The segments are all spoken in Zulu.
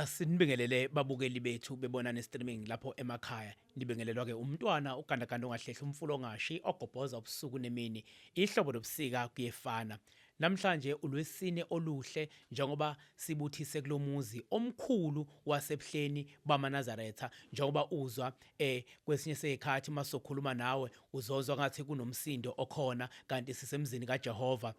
sinibingelele babukeli bethu bebona ne-streaming lapho emakhaya nibingelelwa-ke umntwana ogandaganda ongahlehli umfula ongashi ogobhoza ubusuku nemini ihlobo lobusika kuyefana Namhlanje ulwesine oluhle njengoba sibuthise kulomuzi omkhulu waseBuhleni bamaNazaretha njengoba uzwa eh kwesinye sekhathi masokhuluma nawe uzozwa ngathi kunomsindo okhona kanti sisemzini kaJehova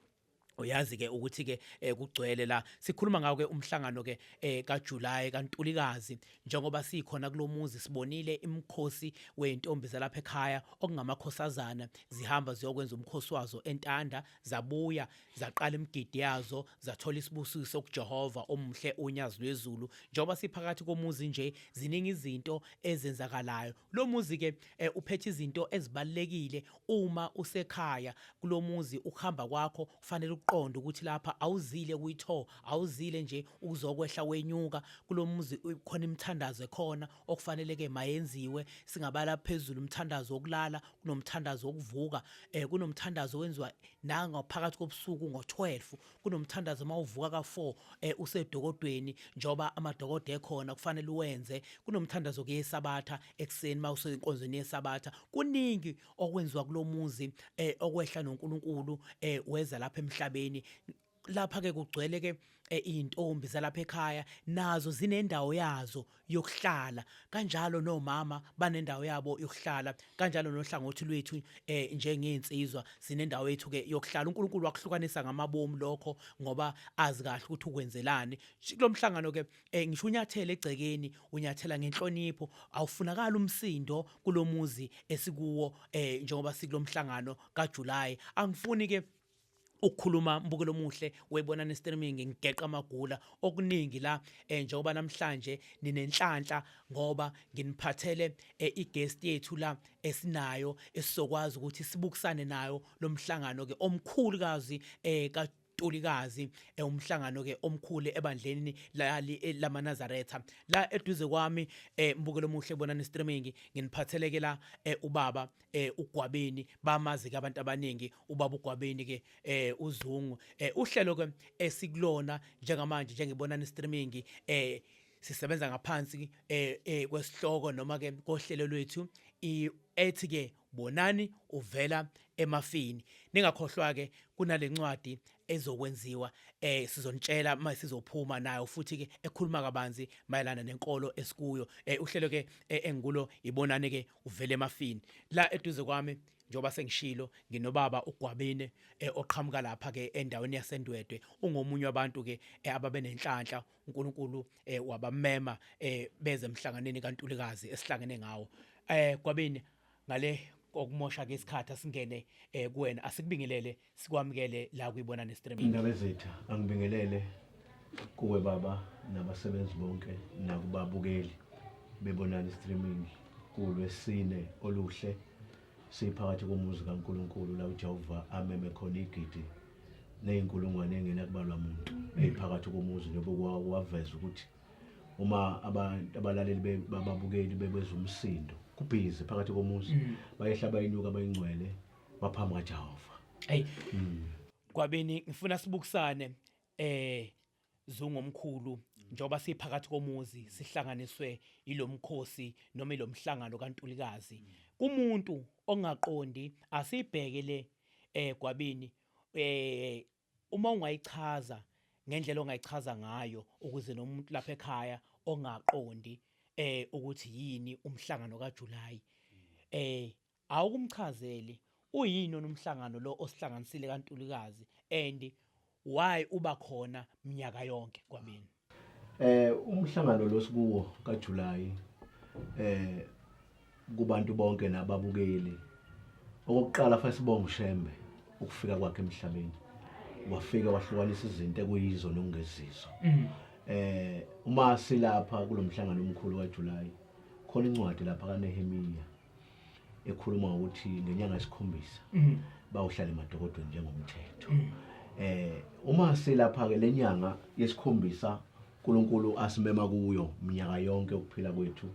uyazi ke ukuthi ke eh, kugcwele la sikhuluma ngawo ke umhlangano ke eh, kaJuly kaNtulikazi njengoba sikhona kulomuzi sibonile imkhosi wezintombi zalapha ekhaya okungamakhosazana zihamba ziyokwenza umkhosi wazo entanda zabuya zaqala imigidi yazo zathola isibusiso kuJehova omuhle onyazi lwezulu njengoba siphakathi komuzi nje ziningi izinto ezenzakalayo lo muzi ke eh, uphethe izinto ezibalekile uma usekhaya kulo muzi ukuhamba kwakho kufanele uqonde ukuthi lapha awuzile kuyitho awuzile nje ukuzokwehla wenyuka kulo muzi khona imithandazo ekhona okufanele ke mayenziwe singabala phezulu umthandazo wokulala kunomthandazo wokuvuka eh kunomthandazo owenziwa nanga phakathi kobusuku ngo12 kunomthandazo mawuvuka ka4 eh usedokodweni njoba amadokodo ekhona kufanele uwenze kunomthandazo kuyesabatha ekseni mawusenkonzweni yesabatha kuningi okwenziwa kulomuzi eh okwehla noNkulunkulu eh weza lapha emhlabeni lapha ke kugcwele ke eh, izintombi zalapha ekhaya nazo zinendawo yazo yokuhlala kanjalo nomama banendawo yabo yokuhlala kanjalo nohlangothi lwethu eh njengeinsizwa sinendawo yethu ke yokuhlala uNkulunkulu wakuhlukanisa ngamabomu lokho ngoba azi kahle ukuthi ukwenzelani kulomhlangano ke eh, ngisho unyathele egcekeni unyathela ngenhlonipho awufunakala umsindo kulomuzi esikuwo eh njengoba sikulomhlangano kaJuly angifuni ke ukukhuluma mbukelo omuhle webona ne streaming ngigeqa amagula okuningi la eh, njengoba namhlanje ninenhlanhla ngoba nginiphathele eh, i-guest yethu la esinayo esizokwazi ukuthi sibukisane nayo lomhlangano ke omkhulu kazi eh, ka Ntulikazi eh, umhlangano ke omkhulu ebandleni lali eh, lamanazaretha la eduze kwami eh, mbukelo omuhle bona ne streaming nginiphatheleke la ubaba eh uGwabeni bamazi ke abantu abaningi ubaba uGwabeni ke eh uZungu eh uhlelo ke esikulona njengamanje njengebona ni streaming eh sisebenza ngaphansi eh, eh kwesihloko noma ke kohlelo lwethu ethi ke bonani uvela emafini ningakhohlwa ke kunalencwadi ezokwenziwa eh sizonitshela uma sizophuma nayo futhi ke ekhuluma kabanzi mayelana nenkolo esikuyo eh uhlelo ke eh, engikulo ibonane ke uvele emafini la eduze kwami njengoba sengishilo nginobaba uGwabine eh, oqhamuka lapha ke endaweni yaseNdwedwe ungomunye wabantu ke eh, ababenenhlanhla uNkulunkulu eh, wabamema eh, beze emhlanganeni kaNtulikazi esihlangene ngawo eh Gwabine ngale okumosha ke isikhathi asingene eh, kuwena asikubingelele sikwamukele la kuyibona nestreaming indaba ezitha angibingelele kuwe baba nabasebenzi bonke nakubabukeli bebonani streaming kulwesine oluhle siphakathi komuzi kaNkuluNkulu la uJehova ameme khona igidi nezinkulungwane engenakubalwa muntu eziphakathi komuzi njengoba waveza ukuthi uma abantu abalaleli bababukeli bebezwa umsindo kubhizi phakathi komuzi mm. bayehla bayinyuka bayingcwele baphambi kwaJehova hey kwabeni ngifuna sibukisane eh zungomkhulu njoba siphakathi komuzi sihlanganiswe ilomkhosi noma ilomhlangano kaNtulikazi kumuntu ongaqondi asibheke le eh kwabini eh uma ungayichaza ngendlela ongayichaza ngayo ukuze nomuntu lapha ekhaya ongaqondi eh ukuthi yini umhlangano kaJuly eh Awukumchazeli uyini wena umhlangano lo osihlanganisile kaNtulikazi and why uba khona mnyaka yonke kwabenu? Eh umhlangano lo sikuwo kaJulayi eh kubantu bonke nababukeli okokuqala fanele sibonge uShembe ukufika kwakhe emhlabeni wafika wahlukanisa izinto ekuyizo nokungezizo eh uma silapha kulomhlangano omkhulu kaJulayi khona incwadi lapha kaNehemiya ekhuluma ngokuthi ngenyanga yesikhombisa mm. bawuhlale emadokodweni njengomthetho mm. eh uma silapha ke lenyanga yesikhombisa uNkulunkulu asimema kuyo minyaka yonke ukuphila kwethu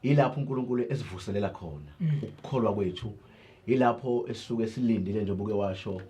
ilapho uNkulunkulu esivuselela khona mm. ukukholwa kwethu ilapho esisuke silindile njengoba uke washo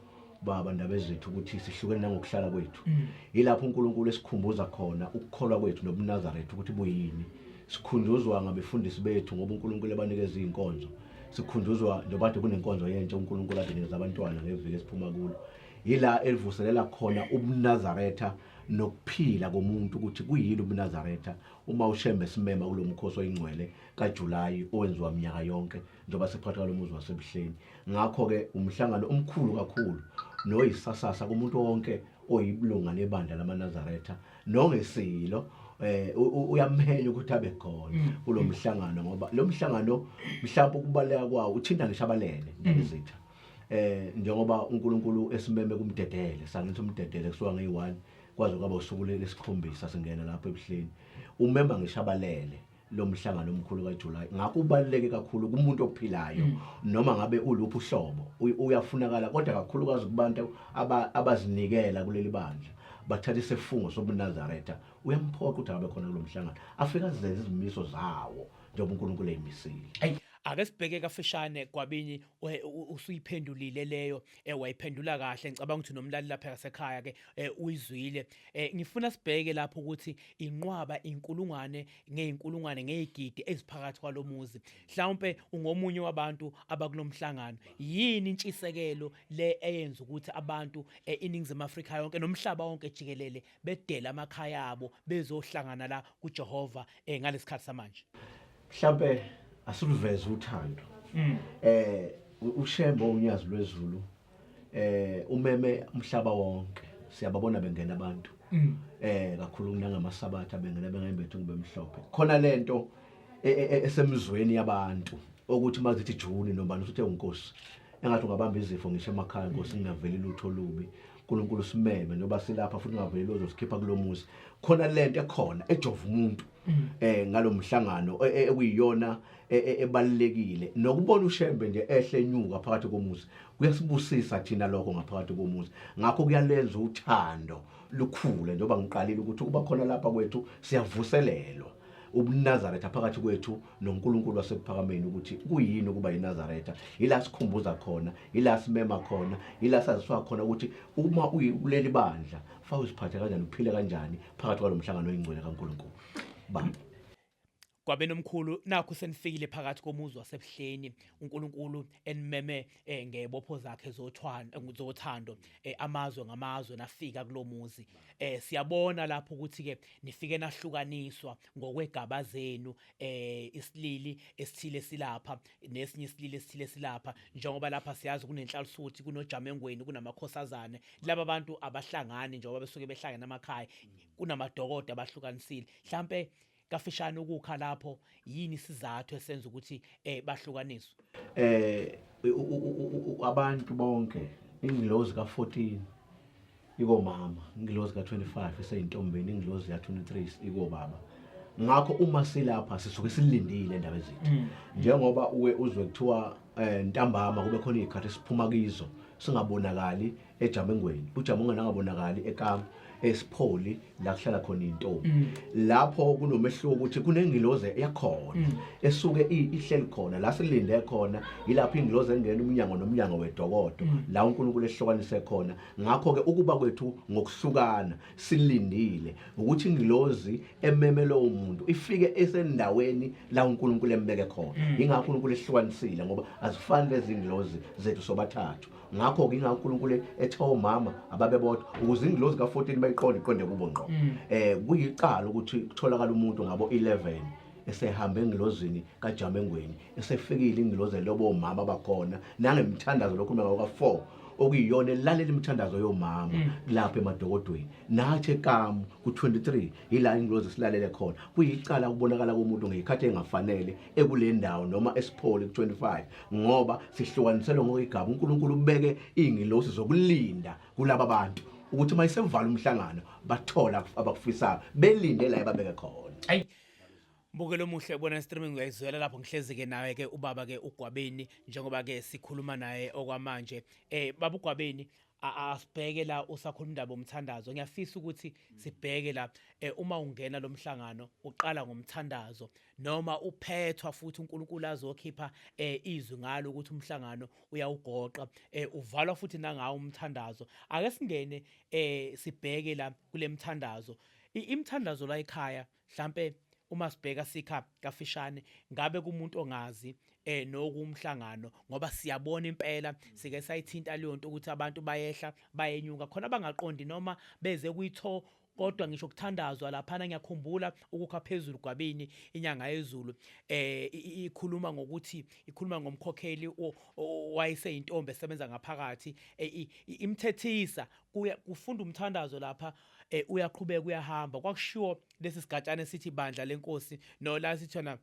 baba ndaba ezethu ukuthi sihlukene nangokuhlala kwethu mm. yilapho uNkulunkulu esikhumbuza khona ukukholwa kwethu nobunazarethu ukuthi buyini sikhunjuzwa ngabefundisi bethu ngoba uNkulunkulu ebanikeza izinkonzo sikhunjuzwa njengoba kade kunenkonzo yentsha uNkulunkulu adenikeza abantwana ngeviki esiphuma kulo yila elivuselela khona ubunazaretha nokuphila komuntu ukuthi kuyini ubunazaretha uma ushembe simema kulomkhosi oyingcwele kaJuly owenziwa minyaka yonke njengoba siphatha lo muzi wasebuhleni ngakho-ke umhlangano omkhulu kakhulu noyisasasa kumuntu wonke oyibulunga lebandla lamanazaretha nongesilo eh uyamhenya ukuthi abe khona mm. kulo mhlangano ngoba lo mhlangano mhlawumbe ukubaleka kwawo uthinta ngisho abalele ngizitha mm. eh njengoba uNkulunkulu esimeme kumdedele sangithi umdedele kusuka ngeyi-1 kwaze kwaba usuku lesikhombisa singena lapho ebuhleni umema ngisho abalele lo mhlangano omkhulu kaJuly ngakho ubaluleke kakhulu kumuntu ophilayo mm. noma ngabe uluphi uhlobo uyafunakala kodwa kakhulukazi kubantu abazinikela kuleli bandla bathatha isifungo sobunazaretha uyamphoqa ukuthi abe khona kulo mhlangano afike azenze izimiso zawo njengoba unkulunkulu eyimisile ake sibheke kafishane gwabini usuyiphendulile leyo eh wayiphendula kahle ngicabanga ukuthi nomlali lapha ngasekhaya ke eh, uyizwile eh, ngifuna sibheke lapho ukuthi inqwaba inkulungwane ngeinkulungwane ngezigidi eziphakathi kwalomuzi mhlawumbe ungomunye wabantu abakulomhlangano yini intshisekelo le eyenza ukuthi abantu eh, iningizimu Afrika yonke nomhlaba wonke jikelele bedele amakhaya abo bezohlangana la kuJehova eh, ngalesikhathi samanje mhlambe asiluveze uthando mm. eh ushembo unyazi lwezulu eh umeme umhlaba wonke siyababona bengena abantu mm. eh kakhulu kunangamasabatha bengena bengayimbethi ngibemhlophe khona lento e, e, e, esemzweni yabantu okuthi uma zithi juni nobani usuthe unkosi engathi ungabamba izifo ngisho emakhaya nkosi ngingaveli lutho olubi uNkulunkulu simeme njengoba silapha futhi ungaveli ozosikhipha kulomuzi khona lento ekhona ejova umuntu mm. eh ngalomhlangano e, e, ekuyiyona e, ebalekile nokubona uShembe nje ehle nyuka phakathi komuzi kuyasibusisa thina lokho ngaphakathi komuzi ngakho kuyalenza uthando lukhule njengoba ngiqalile ukuthi uba khona lapha kwethu siyavuselelwa ubunazaretha phakathi kwethu noNkulunkulu wasekuphakameni ukuthi kuyini ukuba yinazaretha yila sikhumbuza khona yila simema khona yila saziswa khona ukuthi uma uyikuleli bandla fa uziphathe kanjani uphile kanjani phakathi kwalo mhlangano oyingcwele kaNkulunkulu ba kwabenomkhulu nakho senifikile phakathi komuzi wasebuhleni uNkulunkulu enimeme eh ngebopho zakhe zothwando eh, zothando eh, amazwe ngamazwe nafika kulomuzi eh siyabona lapho ukuthi ke nifike nahlukaniswa ngokwegaba zenu eh isilili esithile silapha nesinye isilili esithile silapha njengoba lapha siyazi kunenhlalisuthi kunojamengweni kunamakhosazane laba bantu abahlangani njengoba besuke behlangene amakhaya kunamadokodo abahlukanisile mhlambe kafishane ukukha lapho yini isizathu esenza ukuthi eh bahlukaniswe eh abantu bonke ingilozi ka14 ikomama ingilozi ka25 eseyintombeni ingilozi ka23 ikobaba ngakho uma silapha sisuke silindile indaba ezithi mm. njengoba uwe uzwe kuthiwa eh, ntambama kube khona izikhathi siphuma kizo singabonakali ejamengweni ujama onganangabonakali ekama esipholi la kuhlala khona intombi mm. lapho kunomehluko ukuthi kunengiloze ekhona mm. esuke ihleli khona la silinde khona yilapho ingiloze engena umnyango nomnyango wedokodo mm. la uNkulunkulu ehlukanise khona ngakho ke ukuba kwethu ngokuhlukana silindile ukuthi ingilozi ememe lowo muntu ifike esendaweni la uNkulunkulu embeke khona ingakho uNkulunkulu ehlukanisile ngoba azifani lezi ngilozi zethu sobathathu ngakho-ke inga unkulunkulu ethe omama ababebodwa ukuze ingilozi ka-14 bayiqonde iqonde kubo ngqo um mm. eh, kuyicala ukuthi kutholakala umuntu ngabo 11 esehambe engilozini kajamengweni esefikile ingilozi elobo omama bakhona nangemthandazo lokhuluma ngabo ka-4 okuyiyona elalela imithandazo yomama mm. lapha emadokodweni nathi ekamu ku-23 yila ingilozi silalele khona kuyicala ukubonakala komuntu ngeyikhathi engafanele ekule ndawo noma esipholi ku-25 ngoba sihlukaniselwe ngokwegaba unkulunkulu ubeke iy'ngilosi zokulinda kulaba bantu ukuthi uma isevala umhlangano bathole abakufisayo belinde la ebabeke khona ayi mbukelo omuhle ubona streaming uyayizwela lapho ngihlezi-ke naye-ke ubaba-ke ugwabeni njengoba-ke sikhuluma naye okwamanje um baba ugwabeni asibheke la usakhuluma indaba omthandazo ngiyafisa ukuthi sibheke la eh, uma ungena lomhlangano uqala ngomthandazo noma uphethwa futhi uNkulunkulu azokhipha eh, izwi ngalo ukuthi umhlangano uyawugoqa eh, uvalwa futhi nangawo umthandazo ake singene eh, sibheke la kulemthandazo imthandazo la ekhaya mhlambe uma sibheka sikha kafishane ngabe kumuntu ongazi eh nokumhlangano ngoba siyabona impela sike sayithinta leyo nto ukuthi abantu bayehla bayenyuka khona bangaqondi noma beze kuyitho kodwa ngisho kuthandazwa laphana ngiyakhumbula ukukha phezulu gwabini inyanga yezulu eh ikhuluma ngokuthi ikhuluma ngomkhokheli wayeseyintombi esebenza ngaphakathi e, imthethisa kuya kufunda umthandazo lapha eh, uyaqhubeka uyahamba kwakushiwo lesi sigatshana sithi bandla lenkosi no la sithona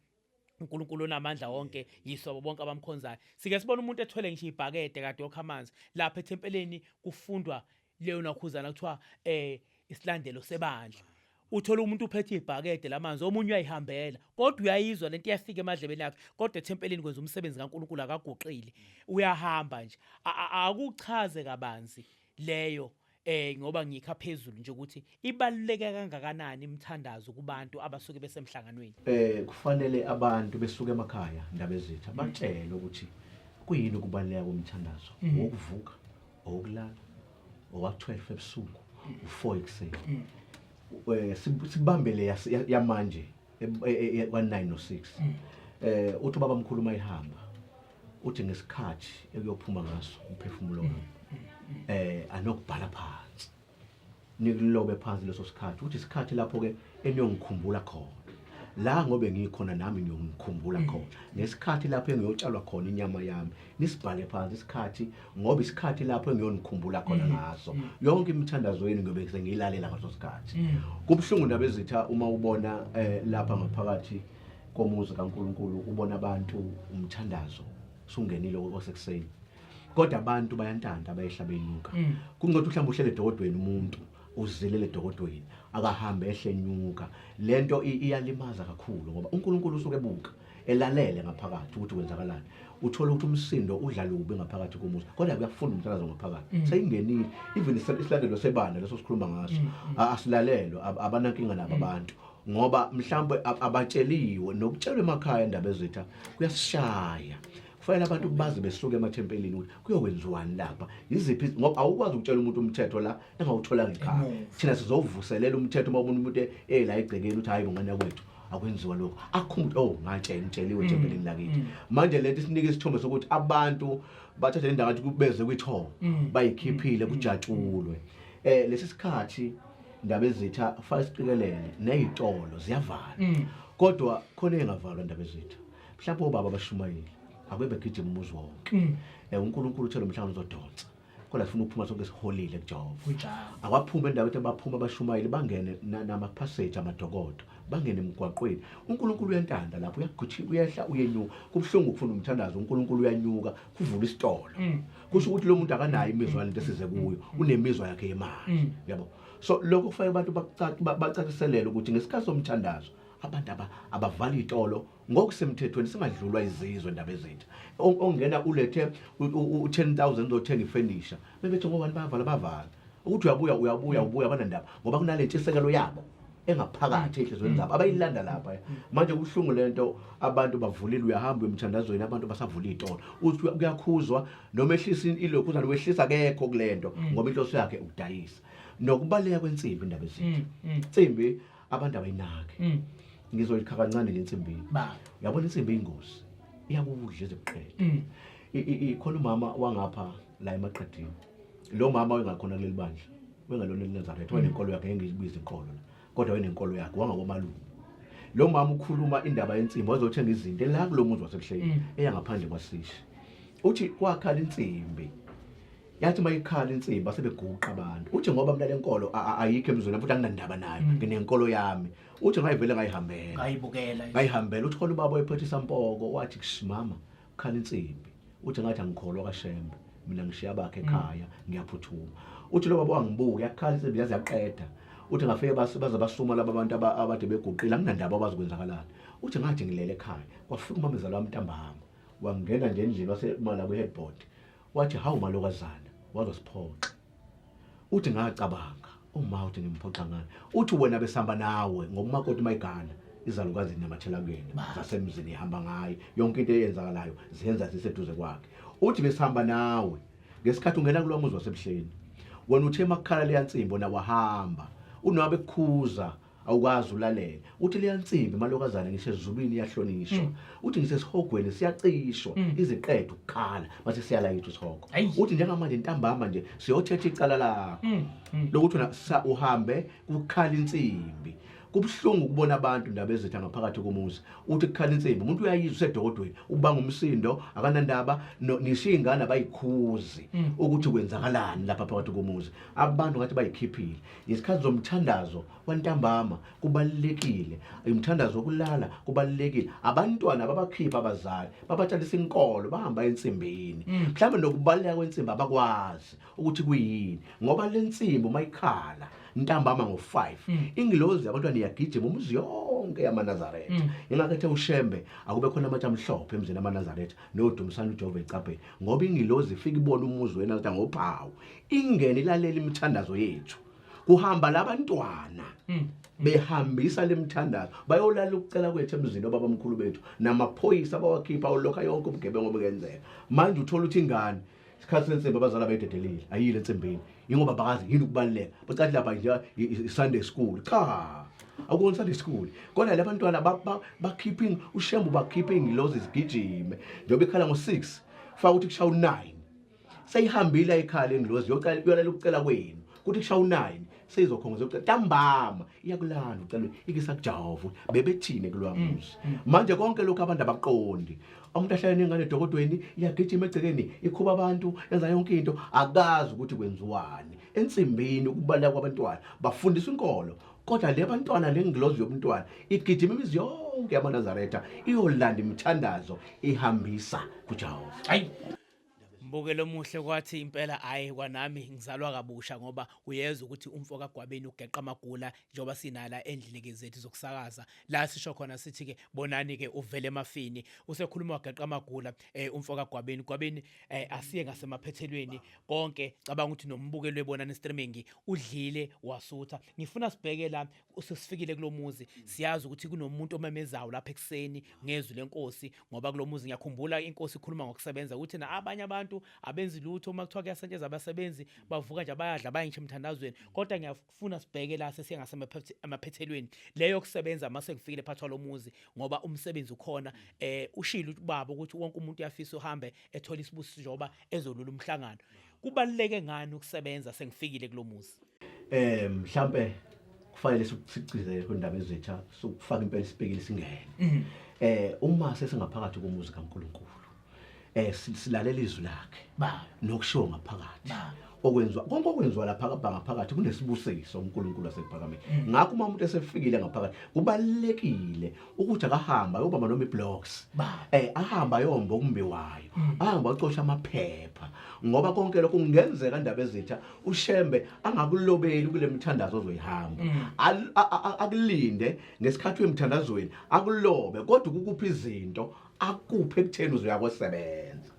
uNkulunkulu onamandla wonke yisobo bonke abamkhonzayo sike sibona umuntu ethwele ngisho ibhakede kade okha amanzi lapha ethempeleni kufundwa leyo nakhuzana kuthiwa eh isilandelo sebandla uthola umuntu uphethe ibhakede lamanzi omunye uyayihambela kodwa uyayizwa lento iyafika emadlebeni yakhe kodwa ethempeleni kwenza umsebenzi kaNkuluNkulu akaguqile uyahamba nje akuchaze kabanzi leyo eh ngoba ngikha phezulu nje ukuthi ibaluleke kangakanani imithandazo kubantu abasuke besemhlanganweni eh kufanele abantu besuke emakhaya ndabezitha mm. batshele ukuthi kuyini ukubaluleka komthandazo mm. wokuvuka okulala owa12 ebusuku u4 ekuseni mm. eh sibambele yamanje e, e, e, kwa9 no6 eh uthi baba mkhulu mayihamba uthi ngesikhathi ekuyophuma ngaso umphefumulo wami eh anokubhala phansi nikulobe phansi leso sikhathi ukuthi isikhathi lapho ke eniyongikhumbula khona la ngobe ngikhona nami ngiyongikhumbula mm. khona ngesikhathi lapho engiyotshalwa khona inyama yami nisibhale phansi isikhathi ngoba isikhathi lapho engiyonikhumbula khona mm. ngaso mm. yonke imithandazo yenu ngiyobe sengiyilalela ngaso sikhathi kubuhlungu ndabezitha uma ubona eh, lapha ngaphakathi komuzi kaNkulunkulu ubona abantu umthandazo sungenile osekuseni kodwa abantu bayantanda abayehlaba inyuka mm. kungathi uhlamba uhlele dokodweni umuntu uzilele dokodweni akahambe ehlenyuka lento iyalimaza kakhulu ngoba uNkulunkulu usuke ebuka elalele ngaphakathi ukuthi kwenzakalani uthola ukuthi umsindo udlalubi ngaphakathi komuzi kodwa kuyafunda umthandazo ngaphakathi mm. seyingenile even isilandelo sebandla leso sikhuluma ngaso mm, asilalelwe abanankinga nabo abantu ngoba mhlawumbe abatsheliwe nokutshelwa emakhaya indaba ezitha kuyasishaya kufanele abantu baze besuke emathempelini ukuthi kuyokwenziwani lapha yiziphi ngoba awukwazi ukutshela umuntu umthetho la engawutholanga ikhaya thina sizovuselela umthetho uma umuntu umuntu ela egcekeni ukuthi hayi bongane kwethu akwenziwa lokho akhumbuthi oh ngatshela ngitsheliwe mm, ethempelini lakithi mm. manje lento isinika isithombe sokuthi abantu bathathe le ndawo athi kubeze kwithoba mm, bayikhiphile kujatshulwe um lesi sikhathi Ndabezitha faka isiqikelele nezitolo ziyavala. Mm. Kodwa khona engavalwa Ndabezitha. Mhlawumbe obaba abashumayile akube begijima umuzi wonke. Mm. Eh uNkulunkulu uthe lo mhlangano uzodonsa. Kodwa sifuna ukuphuma sonke siholile kuJehova. Kunjalo. Awaphuma endaweni abaphuma abashumayeli bangene na- nama-passage amadokodo bangene emgwaqweni unkulunkulu uyantanda lapho uyagijima uyehla uyenyuka kubuhlungu ukufuna umthandazo unkulunkulu uyanyuka kuvula isitolo Mm. kusho ukuthi lo muntu akanayo imizwa yalento esize kuyo unemizwa yakhe yemanje yabo so lokho kufanele abantu bakucaci- ba- bacaciselele ukuthi ngesikhathi somthandazo abantu aba- abavali itolo ngokusemthethweni singadlulwa izizwe ndaba ezintsha O- ongena ulethe u- u- u- 10000 zothenga ifenisha bebethi ngobani bavala bavala ukuthi uyabuya uyabuya ubuya banandaba ngoba kunale ntshisekelo yabo engaphakathi ehlizweni mm. lapho abayilanda lapha mm. manje kuhlungu lento abantu bavulile uyahamba emthandazweni abantu basavula itolo uthi kuyakhuzwa noma ehlisa ilokhu uzalo wehlisa kekho kulento mm. ngoba inhloso yakhe ukudayisa nokubaleka kwensimbi indaba ezinto insimbi abantu abayinaki ngizoyikha kancane le nsimbi yabona insimbi ingozi iyakudla ezikuqeda ikhona umama wangapha la emaqedini lo mama wengakhona kuleli bandla wengalona elinazaretha wanenkolo yakhe engiyibiza inkolo la kodwa wayenenkolo yakhe wangakomalume lo mama ukhuluma indaba yensimbi wazothenga izinto la kulo muzi wasebuhleni mm. eyangaphandle kwasishe uthi kwakhala insimbi yathi mayikhala insimbi asebeguqa abantu uthi ngoba mina lenkolo ayikho emzweni futhi anginandaba nayo mm. nginenkolo yami uthi ngayivele ngayihambela ngayibukela ngayihambela uthi khona ubaba oyephethe isampoko wathi kushimama khala insimbi uthi ngathi angikholwa kashembe mina ngishiya bakhe ekhaya ngiyaphuthuma uthi lo baba wangibuka yakhala insimbi yaze yaqeda uthi ngafike bas- baze basuma laba bantu aba- abade beguqile anginandaba abazi kwenzakalani uthi ngathi ngilele ekhaya kwafika umamezala wami ntambama wangena nje endlini wasemala kwi-headboard wathi hawu malokazana wazosiphoxa uthi ngacabanga uma uthi ngimphoxa ngani uthi wena besihamba nawe ngoba umakoti mayigana izalukazi zinyamathela kuyena zasemzini ihamba ngaye yonke into eyenzakalayo ziyenza ziseduze kwakhe uthi besihamba nawe ngesikhathi ungena kulowa muzi wasebuhleni wena uthe makukhala leya nsimbo na wahamba unwabe kukhuza awukwazi ulalele uthi liyansimbi malokazana ngisho ezulwini iyahlonishwa mm. uthi ngisho esihogweni siyacishwa mm. iziqeda ukukhala mase siyalayitha isihogo uthi njengamanje ntambama nje siyothetha icala lakho mm, lokuthi wena uhambe kukhala insimbi kubuhlungu ukubona abantu ndaba ezitha ngaphakathi komuzi uthi kukhala insimbi umuntu uyayizwa usedokodweni ubanga umsindo akanandaba nisho iy'ngane abayikhuzi ukuthi kwenzakalani lapha phakathi komuzi abantu ngathi bayikhiphile ngesikhathi zomthandazo wantambama kubalulekile umthandazo wokulala kubalulekile abantwana babakhipha abazali babatshalisa inkolo bahamba ensimbini mm. mhlawumbe nokubaluleka kwensimbi abakwazi ukuthi kuyini ngoba le nsimbi uma ikhala ntambama ngo-5 mm. ingilozi yabantwana iyagijima umuzi yonke yamanazaretha mm. ingakethe ushembe akube khona amatsha amhlophe emzini amanazaretha nodumisana ujehova ecabheni ngoba ingilozi ifike ibona umuzi wena kuthiwa ngophawu ingene ilalela imithandazo yethu kuhamba labantwana hmm. behambisa lemthandazo bayolala ukucela kwethu emzini obaba mkhulu bethu namaphoyisa bawakhipha ulokha yonke ubugebengu obukenzeka manje uthola ukuthi ingane isikhathi sensimbi abazali abayidedelile ayile ensimbini yingoba bakazi yini ukubaluleka bacathi lapha nje i-sunday school cha akukona sunday school kodwa le bantwana bakhiphe ushembu bakhiphe ingilozi zigijime njengoba ikhala ngo-six faka ukuthi kushaya u-nine seyihambile ayikhali indlozi yocela yolalela ukucela kwenu kuthi kushawa unayini seyizokhongoza yokucela ntambama iyakulanda ucela ikisakujahova ukuthi bebethini kulwamuzi manje konke lokhu abantu abakuqondi umuntu ahlale nengane edokodweni iyagijima egcekeni ikhuba abantu yenza yonke into akazi ukuthi kwenziwani ensimbini ukubaleka kwabantwana bafundisa inkolo kodwa le bantwana le ngilozi yomntwana igijima imizi yonke yamanazaretha iyolanda imithandazo ihambisa kujehova hayi Mbukelo omuhle kwathi impela hayi kwanami ngizalwa kabusha ngoba uyezwa ukuthi umfo kaGwabeni ugeqa amagula njengoba sinala endlini zethu zokusakaza la sisho khona sithi ke bonani ke uvele emafini usekhuluma wageqa amagula eh, umfo kaGwabeni Gwabeni eh, asiye ngasemaphethelweni konke cabanga ukuthi nombukelo ebonani streaming udlile wasutha ngifuna sibheke la usesifikile kulomuzi siyazi ukuthi kunomuntu omemezayo lapha ekseni ngezwi lenkosi ngoba kulomuzi ngiyakhumbula inkosi ikhuluma ngokusebenza ukuthi na abanye abantu abenzi lutho uma kuthiwa kuyasentsheza abasebenzi bavuka nje bayadla bayintshe emthandazweni kodwa ngiyafuna sibheke la sesiyengasemaphethelweni leyo kusebenza mase ngifikile phathi walomuzi ngoba umsebenzi ukhona eh ushilo ubaba ukuthi wonke umuntu uyafisa uhambe ethola isibusiso njengoba ezolula umhlangano kubaluleke ngani ukusebenza sengifikile kulomuzi eh mhlambe kufanele sikugcizele kundaba ezitsha sokufaka impela isibhekile singene mhm. eh uma sesingaphakathi komuzi kaNkuluNkulu eh silalela izwi lakhe baba nokushiwo ngaphakathi okwenziwa konke okwenziwa lapha kabhanga phakathi kunesibusiso uNkulunkulu asekuphakame mm. ngakho uma umuntu esefikile ngaphakathi kubalekile ukuthi akahamba ayobamba noma iblocks eh ahamba ayomba okumbiwayo mm. ahamba acosha amaphepha ngoba konke lokho kungenzeka indaba ezitha ushembe angakulobeli kule mithandazo ozoyihamba mm. akulinde ngesikhathi wemthandazweni akulobe kodwa ukukupha izinto akuphe ekutheni uzoyakosebenza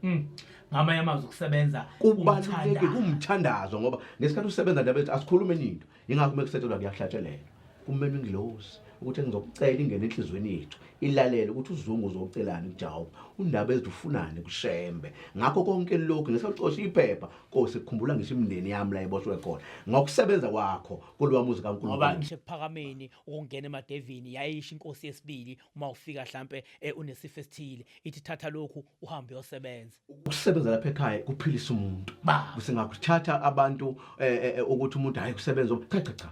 mm. ngamanye amazwi ukusebenza kubaluleke kumthandazo ngoba ngesikhathi usebenza ndabethu asikhulume ninto yingakho uma kusethelwa kuyahlatshelelwa kumele ingilosi ukuthi engizokucela ingene enhliziyweni yethu ilalele ukuthi uzungu uzocelani kujawuba undaba ezidufunane kushembe ngakho konke lokhu ngisacosha iphepha nkosi kukhumbula ngisho imindeni yami la iboshwe khona ngokusebenza kwakho kolwamuzi kaNkulunkulu ngoba ngishe kuphakameni ukungena emadevini yayisho inkosi yesibili uma ufika hlampe eh, unesifo esithile ithi thatha lokhu uhambe uyosebenza ukusebenza lapha ekhaya kuphilisa umuntu Ba. kusingakuthatha abantu eh, eh, eh, ukuthi umuntu hayi kusebenza um- cha cha cha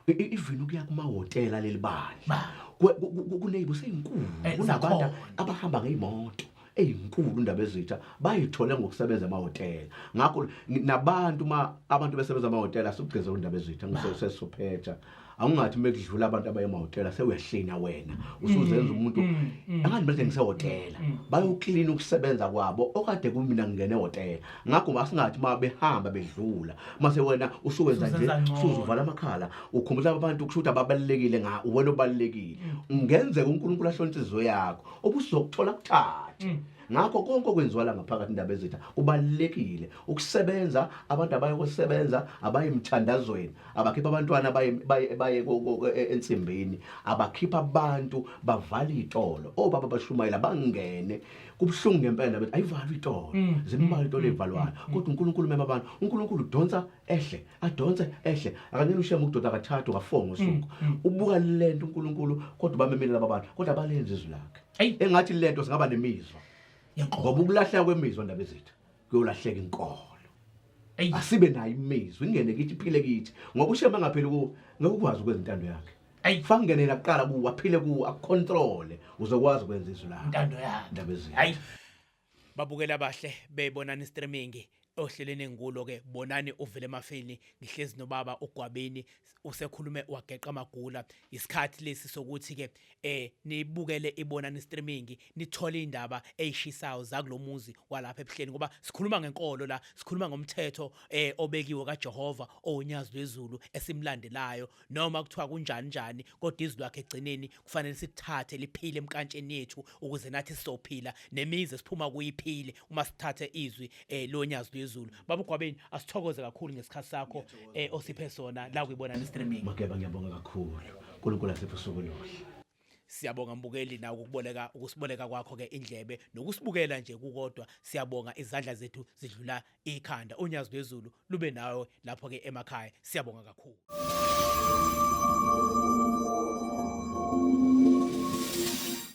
I- i- even ukuya kumahhotela leli bandla Ba. Ku- ku- ku- kuneybo seyinkulu Eh, kunabantu zakhona. abahamba ngeyimoto eyinkulu indaba ezitsha bayithole ngokusebenza emahhotela ngakho nabantu uma abantu besebenza amahhotela asugeze indaba ezitsha ngisesesophetha awungathi uma kudlula abantu abaye emahhotela sewuyahlina wena usuzenza mm, umuntu mm, mm. angathi manje ngisehhotela bayoklina ukusebenza kwabo okade kumina ngingene ehhotela ngakho asingathi uma behamba bedlula mase wena usuwenza nje usuzuvala amakhala ukhumbula abantu kusho ukuthi ababalulekile nga uwena obalulekile ungenzeka unkulunkulu ahlontshe izizo yakho obusizokuthola kucace mm. ngakho konke okwenziwa la ngaphakathi indaba ezitha kubalulekile ukusebenza abantu abaye kosebenza abaye emthandazweni abakhipha abantwana baye e, ensimbini abakhipha abantu bavala itolo obaba bashumayela bangene kubuhlungu ngempela ndaba ayivalwa itolo mm. zimbalwa itolo mm. ezivalwayo kodwa uNkulunkulu mema abantu uNkulunkulu udonsa ehle adonse ehle akanini ushema ukudoda kathathu ka4 ngosuku mm, mm. ubuka lento uNkulunkulu kodwa bamemile laba bantu kodwa balenza izwi lakhe engathi lento singaba nemizwa ngoba ukulahleka kwemizwa ndaba ezethu kuyolahleka inkolo asibe nayo imizwa ingene kithi iphile kithi ngoba ushema ngapheli ku ngekukwazi ukwenza intando yakhe fangenela kuqala kuwa phile kuwa akucontrole uzokwazi ukwenza izwi lakhe intando yakhe ndaba ezethu Babukela abahle bebonani streaming ohleleni engulo ke bonani uvele emafeni ngihlezi nobaba ugwabini usekhulume wageqa amagula isikhathi lesi sokuthi ke eh nibukele ibonani streaming nithole indaba eyishisayo zakulomuzi walapha ebuhleni ngoba sikhuluma ngenkolo la sikhuluma ngomthetho eh obekiwe kaJehova owunyazi lwezulu esimlandelayo noma kuthiwa kunjani njani kodwa izwi lwakhe egcineni kufanele sithathe liphile emkantsheni yethu ukuze nathi sizophila nemizi esiphuma kuyiphile uma sithathe izwi eh, lonyazi lwezulu baba ugwabeni asithokoze kakhulu ngesikhathi sakho eh, osiphe sona la kuyibona ni streaming Mageba ngiyabonga kakhulu. uNkulunkulu asiphe usuku oluhle. Siyabonga mbukeli nawe ukuboleka ukusiboleka kwakho ke indlebe nokusibukela nje kukodwa siyabonga izandla zethu zidlula ikhanda unyazi lwezulu lube nawe lapho ke emakhaya siyabonga kakhulu